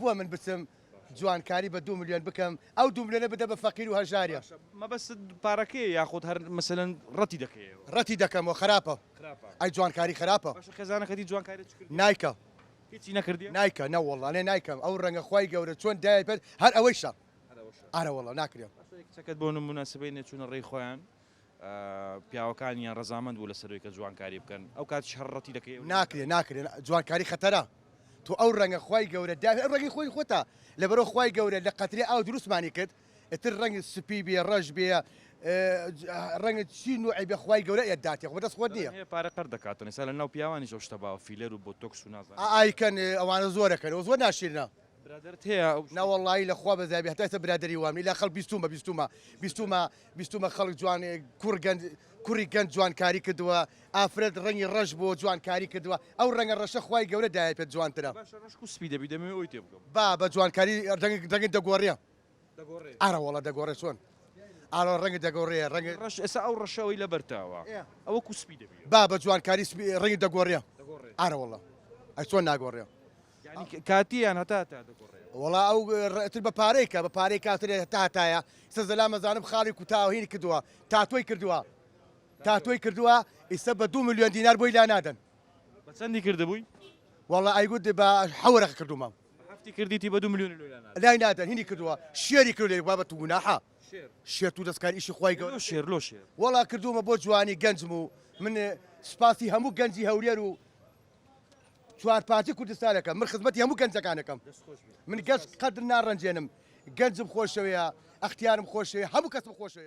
بوە من بچم جوان کاری بە دوو ملیۆن بکەم ئەو دوو ملیۆنە بدە بە فەقیر و هەژاریا. مەبەستت پارەکەیە یاخود هەر مەسەلەن ڕەتی دەکەیەوە. ڕەتی دەکەمەوە خراپە خراپە. ئەی جوانکاری خراپە. باشە خێزانەکەتی جوانکاری چ کردووە؟ نایکا. هیچی نەکردیە؟ نایکا نەوەڵا لێ نایکەم ئەو ڕەنگە خوای گەورە چۆن دایە پێت هەر ئەوەیشە. ئەرەوەڵا ناکرێ. کچەکەت بۆ نمونە سبەی نەچونە ڕێی خۆیان؟ پیاوەکانیان ڕەزامەند بوو لەسەروی کە جوانکاری بکەن ئەو کاتیش هەر ڕەتی دەکەی ناکرێ ناکرێ جوانکاری خەتەرە تو ئەو ڕەنگە خوای گەورە دا ئەو ڕەنگی خۆی خۆتە لەبەرو خوای گەورە لە قەترەی ئاو دروستمانی کرد ئیتر ڕەنگت سپی بێ ڕەش بێ ڕەنگت چی نوعی بێ خوای گەورە ئێت داتێ خۆ بەدەست خۆت نییە پارە قەر دەکاتن ئێستا لەناو پیاوانیش ئەو شتە باوە فیلەر و بۆتۆکس و نازانم ئای کەن ئەوانە زۆرە کەن زۆر ناشرینە برادەرت هەیە ئەو نا وەڵڵاهی لەخوا بەزاویە هەتا ئێستا برادەری وام نییە لەقەڵ بیستوومە بیستوومە بیستوومە بیستومە خەڵک جوان کوڕ گەنج کوڕی گەنج جوان کاری کردوە ئافرەت ڕەنگی ڕەش بۆ جوان کاری کردوە ئەو ڕەنگە ڕەشە خوای گەورە دایە پێت جوانترە با بە جوان کاری ڕەنگی دەگۆڕێ ئارە وڵە دەگۆڕێ چۆن ئارە ڕەنگی دەگۆڕێ ڕەنگی ڕەش ئێسا ئەو ڕەشەوەی لە بەرتاوە ئەوە کوسپی دەبی با بە جوان کاری ڕەنگی دەگۆڕێ ئارە وڵە ئە چۆن ناگۆڕێ یانی کاتی یان هەتا هەتایە دەگۆڕێ؟ وەڵا ئەو ڕێتر بە پارەی کە بە پارەی کاترێ هەتا هەتایە ئیسە زەلام ئەزانم خاڵی کوتاوە هینی کردووە تاتۆی کردووە تاتۆی کردووە ئیسە بە دوو ملیۆن دینار بۆی لا نادەن بە چەندی کردبووی وەڵا ئایگوت بە حەوەرەکە کردومام هەفتی کردیتی بە دوو ملیۆن لۆ لا نادەن لای نادەن هینی کردووە شێری کرد لێ بابەت و گوناحە شێر شێر تو دەستکاری ئیشی خوای گەورە لۆ شێر لۆ شێر وەڵا کردوومە بۆ جوانی گەنجم و من سوپاسی هەموو گەنجی هەولێر و چوار پارچەی کوردستانەکەم من خزمەتی هەموو گەنجەکانەکەم من گەنج قەت ناڕەنجێنم گەنجم خۆشەوێیە ئەختیارم خۆشەوێ هەموو کەسم خۆشەوێ.